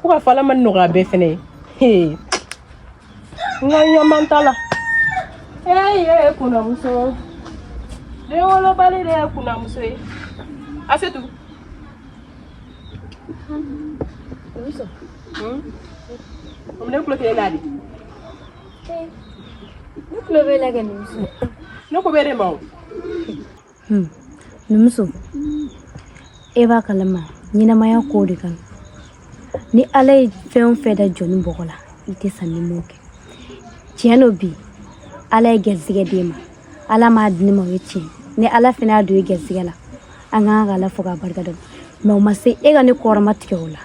ko ka fɔ ala ma nɔgɔya bɛɛ fɛnɛ ye hee n ka ɲaman t'a la ee ye ye kunamuso denwolobali de ye kunamuso ye asetu o ne kulo tɛ e la dɛ ne kulo bɛ la kɛ numuso ne ko b'e de ma o Hmm. Numuso, e b'a kalama ɲɛnamaya ko de kan. Ni Ala ye fɛn o fɛn da jɔnnin bɔgɔ la, i tɛ sa n'i m'o kɛ. Tiɲɛ don bi, Ala ye gɛrisigɛ d'e ma. Ala m'a di ne ma, o ye tiɲɛ ye. Ni Ala fana y'a don e gɛrisigɛ la, an ka kan ka Ala fo k'a barika da. Mais o ma se e ka ne kɔrɔmatigɛ o la.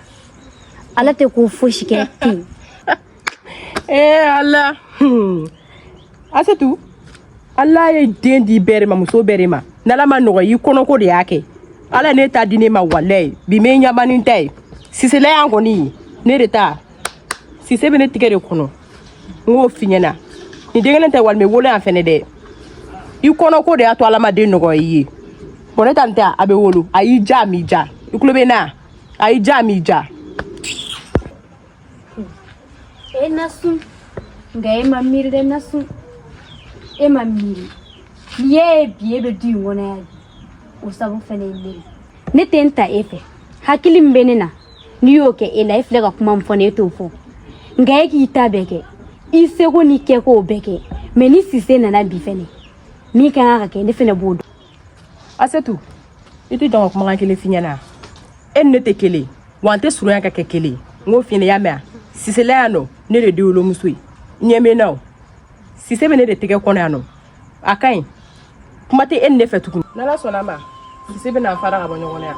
Ala tɛ ko fosi kɛ ten. e ala asetu ala ye den di bɛɛ de ma muso bɛɛ de ma n'ala ma nɔgɔ i kɔnɔko de y'a kɛ ala ne ta di ne ma walayi bi me ɲamani ta ye sisela yan kɔni ye ne de ta sise bɛ ne tigɛ de kɔnɔ n k'o f'i ɲɛna nin den kelen tɛ walima wolo yan fɛnɛ dɛ i kɔnɔko de y'a to ala ma den nɔgɔya i ye bon ne ta nin tɛ a bɛ wolo a y'i ja a m'i ja i tulo bɛ n na a y'i ja a m'i ja E nasu nga e ma miiri dɛ nasu e ma miiri n'i y'a ye bi e bɛ du in kɔnɔ yan bi o sabu fɛnɛ ye ne ye ne tɛ n ta e fɛ hakili min bɛ ne na n'i y'o kɛ e la e filɛ ka kuma min fɔ ne e t'o fɔ nka e k'i ta bɛɛ kɛ i seko n'i kɛkow bɛɛ kɛ mais ni sise nana bi fɛnɛ min ka kan ka kɛ ne fɛnɛ b'o dɔn asetu i tɛ jɔ n ka kumakan kelen f'i ɲɛna e ni ne tɛ kelen wa an tɛ surunya ka kɛ kelen n k'o f'i ɲɛna i y'a mɛn a sisela yan nɔ ne de ye denwolomuso ye ɲɛ bɛ n na o sise bɛ ne de tɛgɛ kɔnɔ yan nɔ a ka ɲi kuma tɛ e ni ne fɛ tuguni n'ala sɔnna a ma sise bɛ na an fara ka bɔ ɲɔgɔn na yan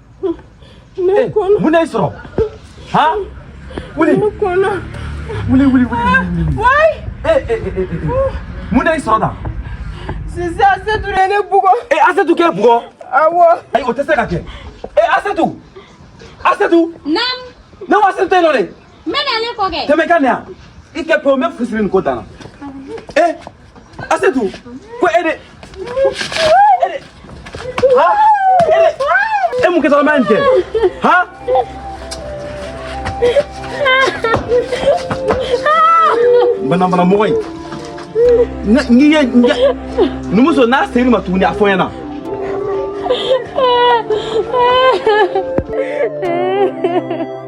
mun n'e sɔrɔ han wuli wuli wuli wuli mun n'e sɔrɔ tan. sisi asetu de ye ne bugɔ. ee asetu k'e bugɔ. awɔ. ayi o tɛ se ka kɛ ee asetu asetu. naamu. ne ko asetu tɛ yen nɔ dɛ. N bɛ na ne kɔ kɛ. Tɛmɛ i ka na yan. I kɛ pewu n bɛ fusiri nin ko dan na. Ee Asetu ko e de e de ha e de e mun kɛtɔla ma nin kɛ ha. Banabana mɔgɔ in. N'i ye numuso n'a seri ma tuguni a fɔ n ɲɛna.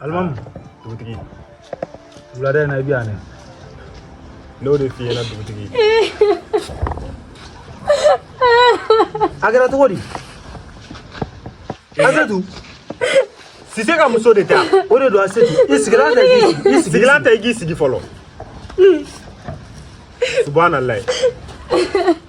alimami dugutigi wulada in na i bɛ yan dɛ n'o de f'i ɲɛna dugutigi a kɛra cogo di asetu sise ka muso de ta o de don asetu i sigilan ta k'i sigi i sigilan ta i k'i sigi fɔlɔ subahana layi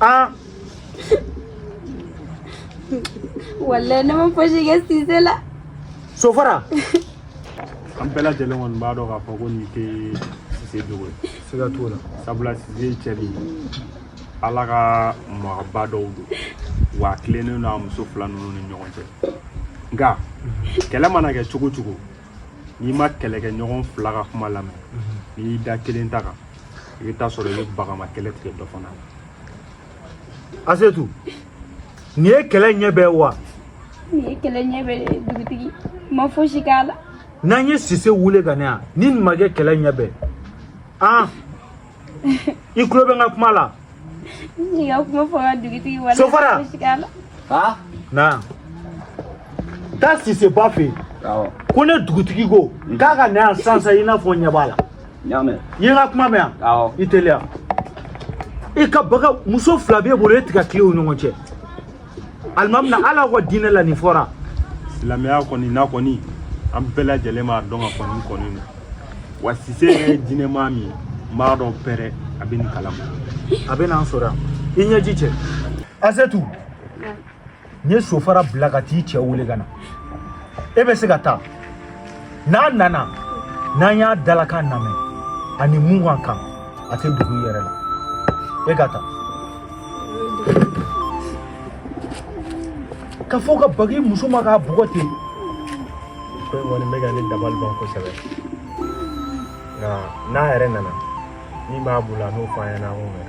Ah. Wallahi ne ma fosi kɛ Sise la. Sofara. An bɛɛ lajɛlen kɔni b'a dɔn k'a fɔ ko nin tɛ Sise jogo ye. Siga t'o la. Sabula Sise ye cɛ de ye. Ala ka mɔgɔba dɔw don. Wa a tilennen don a muso fila ninnu ni ɲɔgɔn cɛ. Nka kɛlɛ mana kɛ cogo cogo n'i ma kɛlɛkɛ ɲɔgɔn fila ka kuma lamɛn n'i y'i da kelen ta kan i bɛ taa sɔrɔ i bɛ bagama kɛlɛ tigɛ dɔ fana la asetu nin ye kɛlɛ ɲɛ bɛɛ wa nin ye kɛlɛ ɲɛ bɛɛ ye dugutigi n ma fosi k'a la n'an ye sise wele ka na yan ni nin ma kɛ kɛlɛ ɲɛ bɛɛ an i tulo bɛ n ka kuma la Sofara na taa siseba fɛ ko ne dugutigi ko k'a ka na sisan i n'a fɔ ɲɛ b'a la i ye n ka kuma mɛn yan i teliya i ka baga muso fila b'e bolo e tɛ ka tilen o ɲɔgɔn cɛ alimami na ala ka diinɛ la nin fɔra silamɛya kɔni na kɔni an bɛɛ lajɛlen b'a dɔn k'a kɔnnen kɔni don wa sise yɛrɛ ye diinɛmaa min ye n b'a dɔn pɛrɛ a bɛ nin kalama a bɛ n'an sɔrɔ yan i ɲɛji cɛ asetu n ye sofara bila ka t'i cɛ wele ka na e bɛ se ka taa n'a nana n'an y'a dalakan lamɛn ani mun ka kan a tɛ dugu yɛrɛ la e ka taa ka fɔ ka bag'i muso ma k'a bugɔ ten ko in kɔni bɛ ka ne dabali ban kosɛbɛ nka n'a yɛrɛ nana min b'a bolo a n'o fɔ an ɲɛna an k'o mɛn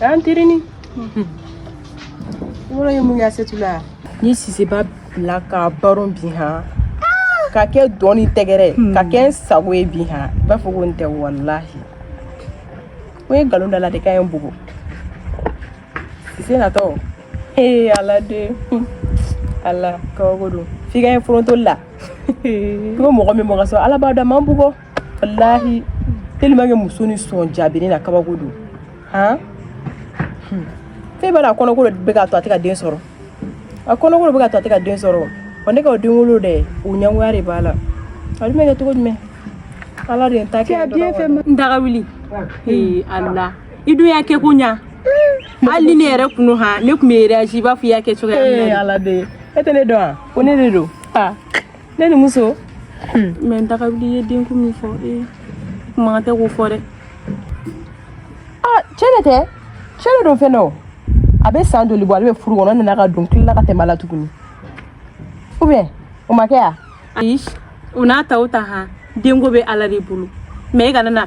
an terinin yɔrɔ ye mun ye asetu la n ye siseba bila k'a baron bi han k'a kɛ dɔn ni tɛgɛrɛ k'a kɛ n sago ye bi han i b'a fɔ ko n tɛ walahi ko n ye nkalon d'a la de k'a ye n bugɔ sise natɔ ee ala de ala kabako don f'i k'a ye forontoli la i ko mɔgɔ min mɔgɔ sɔrɔ ala b'a dɔn a ma n bugɔ walahi tellement que muso nin sɔn jaabini na kabako don han hmm. fɛn b'a la a kɔnɔko bɛ k'a to a tɛ ka den sɔrɔ a kɔnɔko bɛ k'a to a tɛ ka den sɔrɔ wa ne ka o den wolo dɛ o ɲɛngoya de b'a la a dun bɛ kɛ cogo jumɛn ala de ye n ta kɛ n daga wuli ee ala i dun y'a kɛ ko ɲa hali ni ne yɛrɛ tun don han ne tun bɛ réagi i b'a fɔ i y'a kɛ cogoya min na ala de e tɛ ne dɔn wa ko ne de don ne ni muso hmm. mais n daga wuli i ye denko min fɔ ee eh, kuma tɛ k'o fɔ dɛ ah, cɛ de tɛ cɛ de don fɛn dɔ a bɛ san joli bɔ ale bɛ furu kɔnɔ nana ka don tilala ka tɛmɛ a la tuguni ou bien o ma kɛ ya ayi o n'a ta o ta han denko bɛ ala de bolo mais e kana na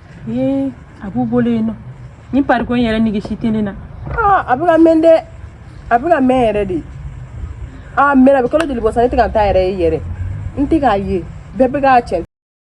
ee a b'u bolo yen nɔ ni pariko in yɛrɛ nege si tɛ ne na aa a bɛ ka mɛn dɛ a bɛ ka mɛn yɛrɛ de aa mɛn a bɛ kalo joli bɔ sa ne tɛ ka n ta yɛrɛ ye yɛrɛ n tɛ k'a ye bɛɛ bɛ k'a cɛ